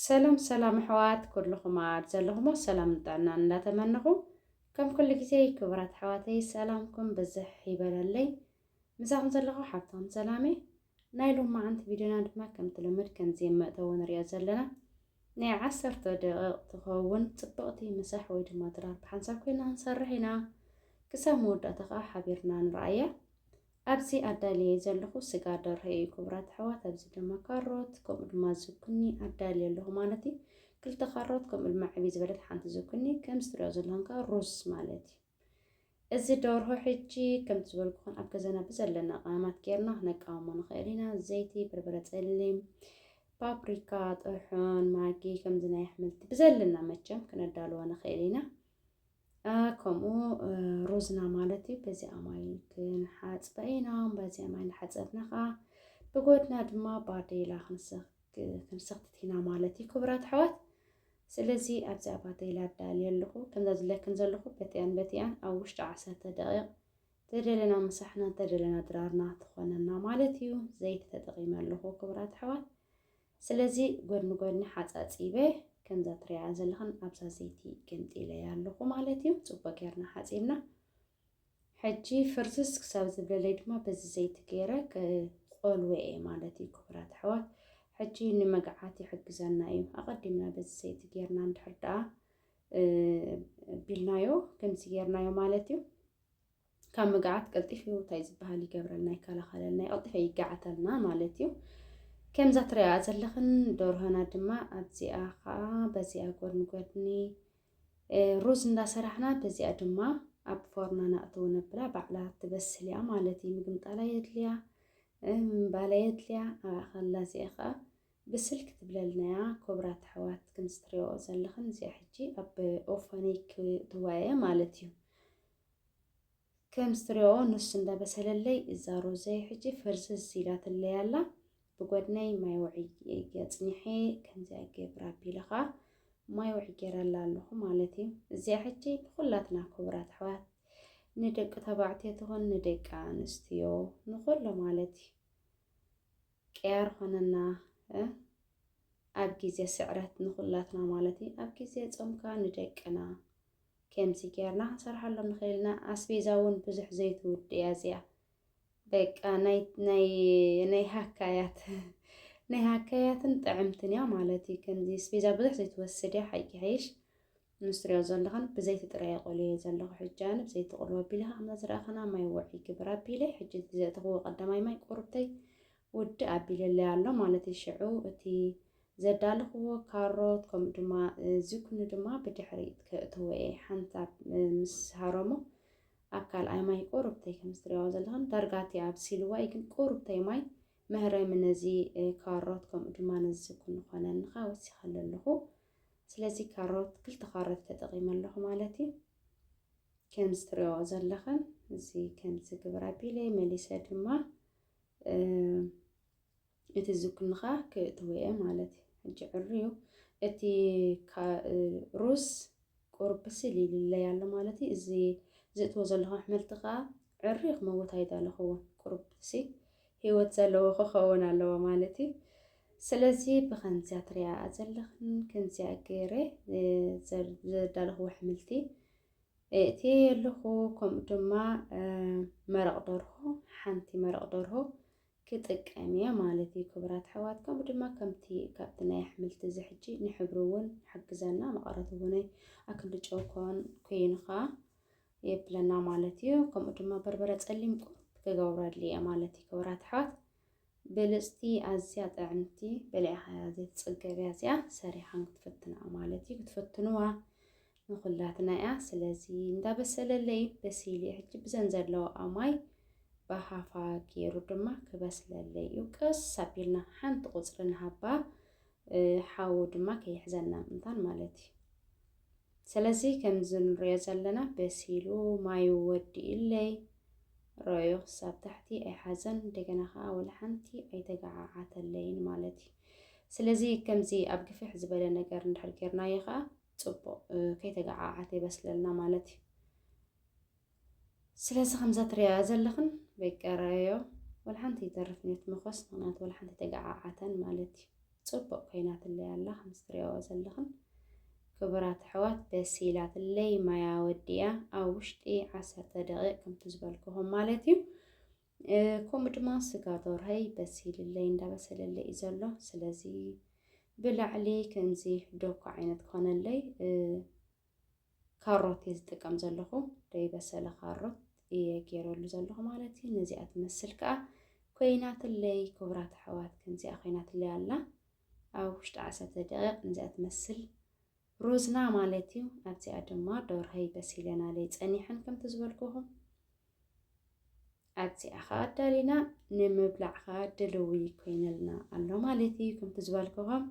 ሰላም ሰላም ኣሕዋት ኩልኹም ኣብ ዘለኹሞ ሰላም ንጥዕና እንዳተመነኹ ከም ኩሉ ግዜ ክቡራት ኣሕዋተይ ሰላምኩም ብዝሕ ይበለለይ ምሳኹም ዘለኹ ሓብቶም ሰላም እየ ናይ ሎማዓንቲ ቪድዮና ድማ ከምቲ ልምድ ከምዚ ኣብ መእተዊ ንሪኦ ዘለና ናይ ዓሰርተ ደቂቕ ትኸውን ጽብቕቲ ምሳሕ ወይ ድማ ድራር ብሓንሳብ ኮይና ክንሰርሕ ኢና። ክሳብ መወዳእታ ከዓ ሓቢርና ንርኣያ። ኣብዚ ኣዳልየ ዘለኹ ስጋ ደርሆ እዩ ክቡራት ኣሕዋት። ኣብዚ ድማ ካሮት ከምኡ ድማ ዝኩኒ ኣዳልየ ኣለኹ ማለት እዩ። ክልተ ካሮት ከምኡ ድማ ዕብይ ዝበለት ሓንቲ ዝኩኒ ከምዚ ትሪኦ ዘለኹም ከዓ ሩዝ ማለት እዩ። እዚ ደርሆ ሕጂ ከምቲ ዝበልኩኹን ኣብ ገዛና ብዘለና ቀመማት ጌርና ክነቃውሞ ንኽእል ኢና። ዘይቲ፣ በርበረ ጸሊም፣ ፓፕሪካ፣ ጥርሑን፣ ማጊ ከምዚ ናይ ኣሕምልቲ ብዘለና መቸም ክነዳልዎ ንኽእል ኢና። ከምኡ ሩዝና ማለት እዩ በዚኣ ማይ ክንሓፅበ ኢና በዚኣ ማይ ንሓፀብና ከዓ ብጎድና ድማ ባዴላ ክንሰክትት ኢና ማለት እዩ ክብራት ኣሕዋት ስለዚ ኣብዚ ኣብ ኣተይላ ኣዳልየ ኣለኹ። ከምዛ ዝብለክን ዘለኹ በቲኣን በቲኣን ኣብ ውሽጢ ዓሰርተ ደቒቕ ተደለና ምሳሕናን ተደለና ድራርና ትኾነና ማለት እዩ። ዘይቲ ተጠቒመ ኣለኹ ክቡራት ኣሕዋት። ስለዚ ጎድኒ ጎድኒ ሓጻጺበ ከምዛ ትሪኣያ ዘለኽን ኣብዛ ዘይቲ ገምጢለያ ኣለኹ ማለት እዩ። ጽቡቕ ጌርና ሓጺብና ሕጂ ፍርስስ ክሳብ ዝብለለይ ድማ በዚ ዘይቲ ገይረ ክቆልወ እየ ማለት እዩ። ክቡራት ኣሕዋት ሕጂ ንመግዓት ይሕግዘና እዩ። ኣቐዲምና በዚ ዘይቲ ጌርና እንድሕር ደኣ ቢልናዮ ከምዚ ጌርናዮ ማለት እዩ ካብ ምግዓት ቀልጢፉ እንታይ ዝበሃል ይገብረልና ይከላኸለልና ይቐልጢፈ ይጋዓተልና ማለት እዩ። ከምዛ ትሪኣ ዘለኽን ደርሆና ድማ ኣብዚኣ ከዓ በዚኣ ጎድኒ ጎድኒ ሩዝ እንዳሰራሕና በዚኣ ድማ ኣብ ፎርና ናእተው ነብላ ባዕላ ትበስል እያ ማለት እዩ ምግምጣላ የድልያ ምንባላ የድልያ ኣብኣ ከላ እዚኣ ከዓ ብስል ክትብለልና እያ ክብራት ኣሕዋት ከምዚ ትሪኦ ዘለኽን እዚኣ ሕጂ ኣብ ኦፈኒ ክትዋ እየ ማለት እዩ ከም ዝትሪኦ ንሱ እንዳበሰለለይ እዛ ሮዘይ ሕጂ ፍርስስ ኢላትለይ ኣላ ብጎድነይ ማይ ውዕይ ገጽኒሐ ከምዚኣ ገብራ ኣቢለ ከኣ ማይ ውዕይ ጌረላ ኣለኹ ማለት እዩ እዚኣ ሕጂ ንኹላትና ክቡራት ኣሕዋት ንደቂ ተባዕትዮ ትኹን ንደቂ ኣንስትዮ ንኹሉ ማለት እዩ ቅያር ኾነና ኣብ ግዜ ስዕረት ንኹላትና ማለት እዩ። ኣብ ግዜ ጾም ከኣ ንደቅና ከምዚ ጌርና ክንሰርሓሎም ንኽእል ኢና። ኣስቤዛ እውን ብዙሕ ዘይትውድ እያ እዚኣ። በቃ ናይ ሃካያት ናይ ሃካያትን ጥዕምትን እያ ማለት እዩ። ከምዚ ኣስቤዛ ብዙሕ ዘይትወስድ እያ ሓቂ ሓይሽ ምስ ትሪኦ ዘለኽን ብዘይቲ ጥራይ ኣቆልየ ዘለኹ ሕጂ ኣነ ብዘይቲ ቆልወ ኣቢለ ሃምና ዝረኣኸና ማይ ወዕ ይግብር ኣቢለ ሕጂ እቲ ዘእተኽዎ ቀዳማይ ማይ ቁርብተይ ውድእ ኣቢለለይ ኣሎ ማለት እዩ ሽዑ እቲ ዘዳለኽዎ ካሮት ከምኡ ድማ ዝኩኒ ድማ ብድሕሪት ከእትዎ እየ ሓንሳብ ምስ ሃረሞ ኣብ ካልኣይ ማይ ቁርብተይ ከም ዝትሪኦ ዘለኽን ዳርጋ እቲ ኣብሲልዋ እዩ ግን ቁርብተይ ማይ መህረሚ ነዚ ካሮት ከምኡ ድማ ነዚ ዝኩኒ ኮነንኻ ወሲኸሉ ኣለኹ ስለዚ ካሮት ክልተ ካሮት ተጠቂመ ኣለኹ ማለት እዩ ከምዚ ትሪኦ ዘለኽን እዚ ከምዚ ግብር ኣቢለይ መሊሰ ድማ እቲ ዝኩንኻ ክእትዎ እየ ማለት እዩ ሕጂ ዕርዩ እቲ ሩዝ ቁሩብ ብስል ኢሉለይ ኣሎ ማለት እዩ እዚ ዝእትዎ ዘለኹ ኣሕመልቲ ከዓ ዕርዩ ክመውት ኣይደለኹዎን ቁሩብ ሲ ሂወት ዘለዎ ክከውን ኣለዎ ማለት እዩ ስለዚ ብከምዚያ ትሪኣኣ ዘለክን ከምዚኣ ገይረ ዘዳለክዎ ኣሕምልቲ እእትየ ኣለኩ ከምኡ ድማ መረቅ ደርሆ ሓንቲ መረቅ ደርሆ ክጥቀም እየ ማለት እዩ ክብራት ኣሕዋት ከምኡ ድማ ከምቲ ካብቲ ናይ ኣሕምልቲ እዚ ሕጂ ንሕብሪ እውን ይሕግዘና መቐረት እውን ኣክንዲ ጨው ኮን ኮይኑ ከዓ የብለና ማለት እዩ ከምኡ ድማ በርበረ ጸሊም ቁሩብ ክገብረሉ እየ ማለት እዩ ክብራት ኣሕዋት ብልጽቲ ኣዝያ ጥዕምቲ በሊዕኻያ ዘይትጽገብያ እዚኣ ሰሪሓን ክትፈትንኣ ማለት እዩ ክትፈትንዋ ንኹላትና እያ ስለዚ እንዳበሰለለይ በሲል እየ ሕጂ ብዘን ዘለዋኣ ማይ ብሃፋ ገይሩ ድማ ክበስለለይ እዩ ቀስ ኣቢልና ሓንቲ ቁፅሪ ንሃባ ሓዊ ድማ ከይሕዘና ምእንታን ማለት እዩ ስለዚ ከምዚ ንሪኦ ዘለና በሲሉ ማዩ ወዲኡለይ ረዮ ክሳብ ታሕቲ ኣይሓዘን እንደገና ከዓ ወላ ሓንቲ ኣይተገዓዓተለይን ማለት እዩ ስለዚ ከምዚ ኣብ ግፍሕ ዝበለ ነገር እንድሕር ጌርናዮ ከዓ ፅቡቅ ከይተገዓዓተ ይበስለልና ማለት እዩ ስለዚ ከምዛ ትሪኣያ ዘለኽን በይቀረዮ ወልሓንቲ ይተርፍ ኔት መኾስ ምክንያቱ ወልሓንቲ ተገዓዓተን ማለት እዩ ፅቡቅ ኮይናትለይ ኣላ ከምዚ ትሪኣዎ ዘለኽን ክቡራት ኣሕዋት ደስ ኢላትለይ ማያ ወዲያ ኣብ ውሽጢ ዓሰርተ ደቂቅ ከምቲ ዝበልክኹም ማለት እዩ ከምኡ ድማ ስጋ ዶርሀይ በሲልለይ እንዳበሰለለይ እዩ ዘሎ ስለዚ ብላዕሊ ከምዚ ዶኮ ዓይነት ክኾነለይ ካሮት እየ ዝጥቀም ዘለኹ ዘይበሰለ ካሮት እየ ገይረሉ ዘለኹ ማለት እዩ ነዚኣ ትመስል ከዓ ኮይናትለይ ክቡራት ኣሕዋት ከምዚኣ ኮይናትለይ ኣላ ኣብ ውሽጢ ዓሰርተ ደቂቕ ነዚኣ ትመስል ሩዝና ማለት እዩ ኣብዚኣ ድማ ዶርሀይ በሲለናለይ ፀኒሐን ከምቲ ዝበልኩኹም ኣብዚኣ ኸዓ ኣዳሊና ንምብላዕ ኸዓ ድልዊ ኮይነልና ኣሎ ማለት እዩ ከምቲ ዝበልክኹም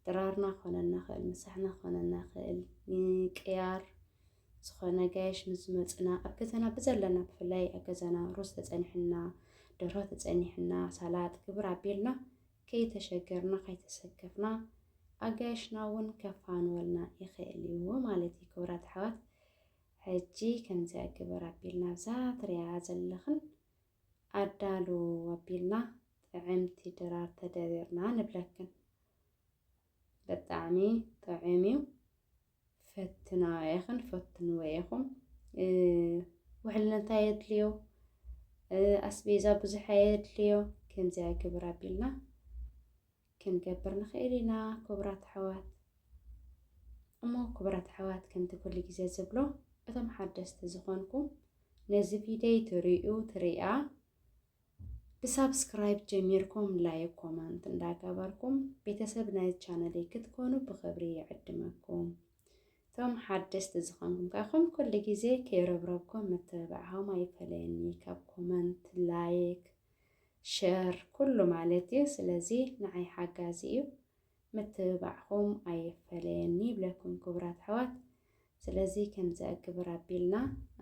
ድራርና ክኾነ ንኽእል ምሳሕና ክኾነ ንኽእል ቅያር ዝኾነ ጋየሽ ምስ ዝመፅና ኣብ ገዛና ብዘለና ብፍላይ ኣብ ገዛና ሩዝ ተፀኒሕና ደርሆ ተፀኒሕና ሳላጥ ግብር ኣቢልና ከይተሸገርና ከይተሰከፍና ኣጋየሽና እውን ከፋንወልና ይኽእል እዩ ማለት እዩ ክብራት ኣሕዋት ሕጂ ከምዚኣ ግበር ኣቢልና ኣብዛ ትሪኣያ ዘለኽን ኣዳሉ ኣቢልና ጥዕምቲ ድራር ተደሪርና ንብለክን በጣዕሚ ጥዑም እዩ ፈትናዮ ኢኽን ፈትንዎ ኢኹም ውሕልነታ የድልዮ ኣስቤዛ ብዙሕ ኣየድልዮ ከምዚኣ ግብር ኣቢልና ክንገብር ንኽእል ኢና ክቡራት ኣሕዋት። እሞ ክቡራት ኣሕዋት ከምቲ ኩሉ ግዜ ዝብሎ እቶም ሓደስቲ ዝኾንኩም ነዚ ቪደይ ትርእዩ ትርእያ ብሳብስክራይብ ጀሚርኩም ላይክ ኮመንት እንዳገበርኩም ቤተሰብ ናይ ቻነለይ ክትኮኑ ብኽብሪ ይዕድመኩም። እቶም ሓደስቲ ዝኾንኩም ከ ከም ኩሉ ግዜ ከይረብረብኩም ምትብባዕኹም ኣይፈለየኒ ካብ ኮመንት ላይክ ሸር ኩሉ ማለት እዩ ስለዚ ንዓይ ሓጋዚ እዩ ምትብባዕኹም ኣይፈለየኒ ይብለኩም ክቡራት ኣሕዋት ስለዚ ከምዚ ኣግብር ኣቢልና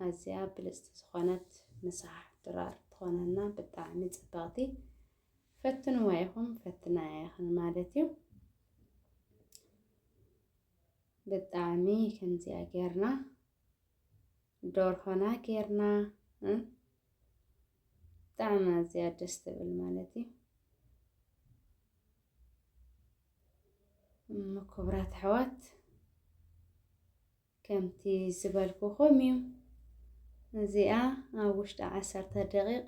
ኣዝያ ብልጽቲ ዝኾነት ምሳሕ ድራር ትኾነና ብጣዕሚ ጽብቕቲ ፈትንዋ ኢኹም ፈትና ኢኽን ማለት እዩ ብጣዕሚ ከምዚኣ ጌርና ዶርሆና ጌርና ብጣዕሚ ኣዝያ ደስ ትብል ማለት እዩ። እሞ ክቡራት ኣሕዋት ከምቲ ዝበልኩኹም እዩ እዚኣ ኣብ ውሽጢ ዓሰርተ ደቂቕ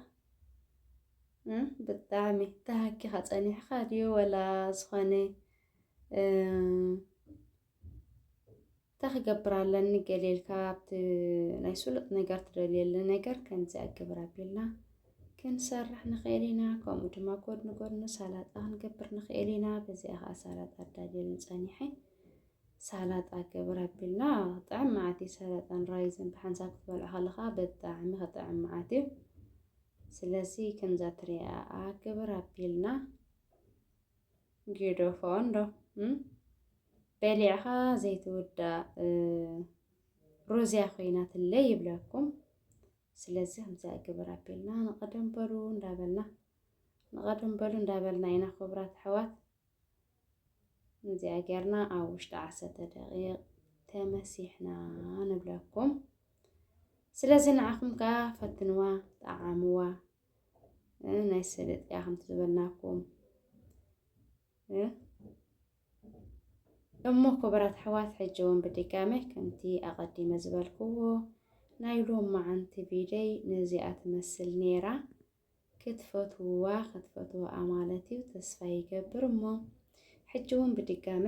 ብጣዕሚ ተሃኪኻ ፀኒሕካ ድዩ ወላ ዝኾነ እንታይ ክገብር ኣለኒ ገሌልካ ኣብቲ ናይ ስሉጥ ነገር ትደልየሉ ነገር ከምዚ ኣግብር ኣቢልና ክንሰርሕ ንኽእል ኢና። ከምኡ ድማ ጎድኒ ጎድኑ ሳላጣ ክንገብር ንኽእል ኢና። በዚኣ ከዓ ሳላጣ ኣዳልየሉ ፀኒሐ ሳላጣ ገብር ኣቢልና ጥዕም መዓት እዩ። ሳላጣን ራይዝን ብሓንሳብ ክትበልዖ ከለካ ብጣዕሚ ክጥዕም መዓት እዩ። ስለዚ ከምዛ ትሪኣ ኣግብር ኣቢልና ጊዶፎ እንዶ በሊዕኻ ዘይትውዳእ ሩዝያ ኮይናትለይ ይብለኩም። ስለዚ ከምዚ ግብር ኣቢልና ንቐደም በሉ እንዳበልና ንቐደም በሉ እንዳበልና ኢና ክቡራት ኣሕዋት እዚኣ ጌርና ኣብ ውሽጢ ዓሰርተ ደቂቕ ተመሲሕና ንብለኩም። ስለዚ ንዓኹም ከዓ ፈትንዋ፣ ጠዓምዋ፣ ናይ ሰለጥያ ከምቲ ዝበልናኩም እሞ ክቡራት ኣሕዋት ሕጂ እውን ብድጋመ ከምቲ ኣቐዲመ ዝበልክዎ ናይ ሎም መዓንቲ ቪደይ ነዚኣ ትመስል ነይራ ክትፈትውዋ ክትፈትውኣ ማለት እዩ ተስፋ ይገብር እሞ ሕጂ እውን ብድጋመ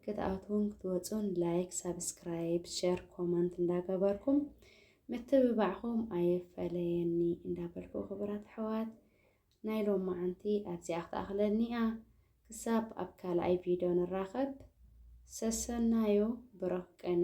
ክትኣትዉን ክትወጹን ላይክ ሳብስክራይብ ሸር ኮመንት እንዳገበርኩም ምትብባዕኹም ኣየፈለየኒ እንዳበልኩ ክቡራት ኣሕዋት ናይ ሎማዓንቲ ኣብዚኣ ክትኣኽለኒኣ ክሳብ ኣብ ካልኣይ ቪድዮ ንራኸብ ሰሰናዩ ብሩኽ ቅነ